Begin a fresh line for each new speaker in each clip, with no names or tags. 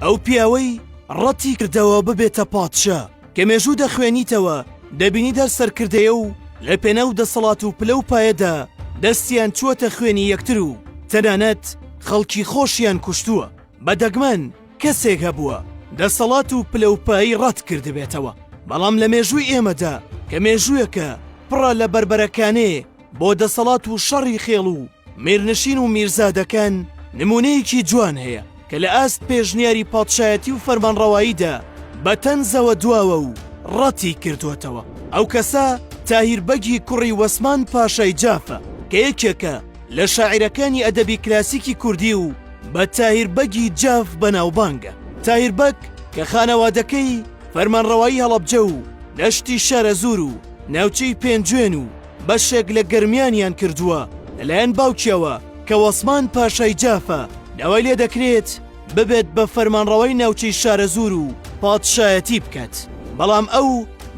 ئەو پیاوەی ڕەتی کردەوە ببێتە پادشا کە مێژوو دەخوێنیتەوە دەبینی دەر سەرکردەیە و لە پێناو دەسەڵات و پلە و پایەدا دەستیان چووەتە خوێنی یەکتر و تەنانەت خەڵکی خۆشیان کوشتووە بە دەگمەن کەسێک هەبووە دەسەڵات و پلە و پایی ڕەت کردبێتەوە بەڵام لە مێژووی ئێمەدا کە مێژوویەکە پڕە لە بربەرەکانێ بۆ دەسەڵات و شەڕی خێڵ و میرنشین و میرزادەکان نموونەیەکی جوان هەیە کە لە ئاست پێشنیاری پادشایەتی و فەرمانڕەواییدا بە تەنزەوە دواوە و ڕەتی کردووەتەوە. ئەو کەسە تاهیر بەگی کوڕی وەسمان پاشای جافە کە یەکێکە لە شاعیرەکانی ئەدەبی کلاسیکی کوردی و بە تاهیر بەگی جاف بەناوبانگە. تاهیر بەگ کە خانەوادەکەی فەرمانڕەوایی هەڵەبجە و دەشتی شارەزوور و ناوچەی پێنجوێن و بەشێک لە گەرمیانیان کردووە لەلایەن باوکیەوە کە وەسمان پاشای جافە داوای لێ دەکرێت ببێت بە فەرمانڕەوای ناوچەی شارەزوور و پادشایەتی بکات بەڵام ئەو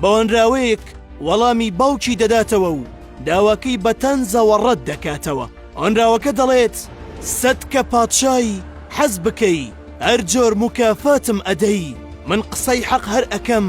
بەوەنراوەیەک وەڵامی باوکی دەداتەوە و داواکەی بە تەنزەوە ڕەت دەکاتەوە ئۆنراوەکە دەڵێت سەد کە پادشای حەز بکەی هەر جۆر موکافاتم ئەدەی من قسەی حەق هەر ئەکەم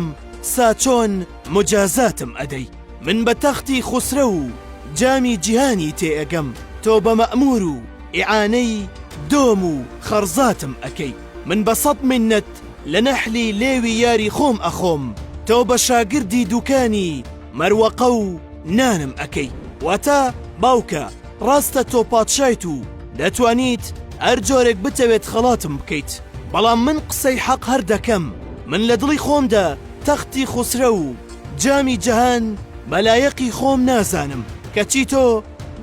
ساچۆن مجازاتم ئەدەی من بە تەختی خوسرەو و جامی جیهانی تێ ئەگەم تۆ بە مەئمور و ئیعانەی دۆم و خەڕزاتم ئەکەی من بە سەد منەت لە نەحلی لێوی یاری خۆم ئەخۆم تۆ بە شاگردی دوکانی مەروەقە و نانم ئەکەی واتە باوکە ڕاستە تۆ پادشایت و دەتوانیت هەر جۆرێک بتەوێت خەڵاتم بکەیت بەڵام من قسەی حەق هەر دەکەم من لە دڵی خۆمدا تەختی خوسرەو و جامی جەهان بەلایەقی خۆم نازانم کەچی تۆ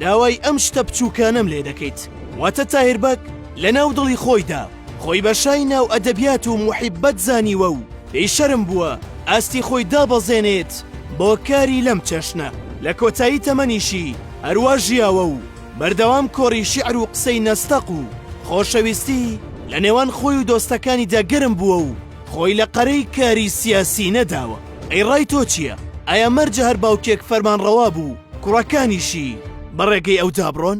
داوای ئەم شتە بچووکانەم لێ دەکەیت واتە تاهیر بەگ لە ناو دڵی خۆیدا خۆی بە شای ناو ئەدەبیات و موحیببەت زانیوە و پێی شەرم بووە ئاستی خۆی دابەزێنێت بۆ کاری لەم چەشنە لە کۆتایی تەمەنیشی هەروا ژیاوە و بەردەوام کۆڕی شیعر و قسەی نەستەق و خۆشەویستی لە نێوان خۆی و دۆستەکانیدا گەرم بووە و خۆی لە قەرەی کاری سیاسی نەداوە ئەی ڕای تۆ چیە ئایا مەرجە هەر باوکێک فەرمان ڕەوا بوو کوڕەکانیشی بە ڕێگەی ئەو دابڕۆن؟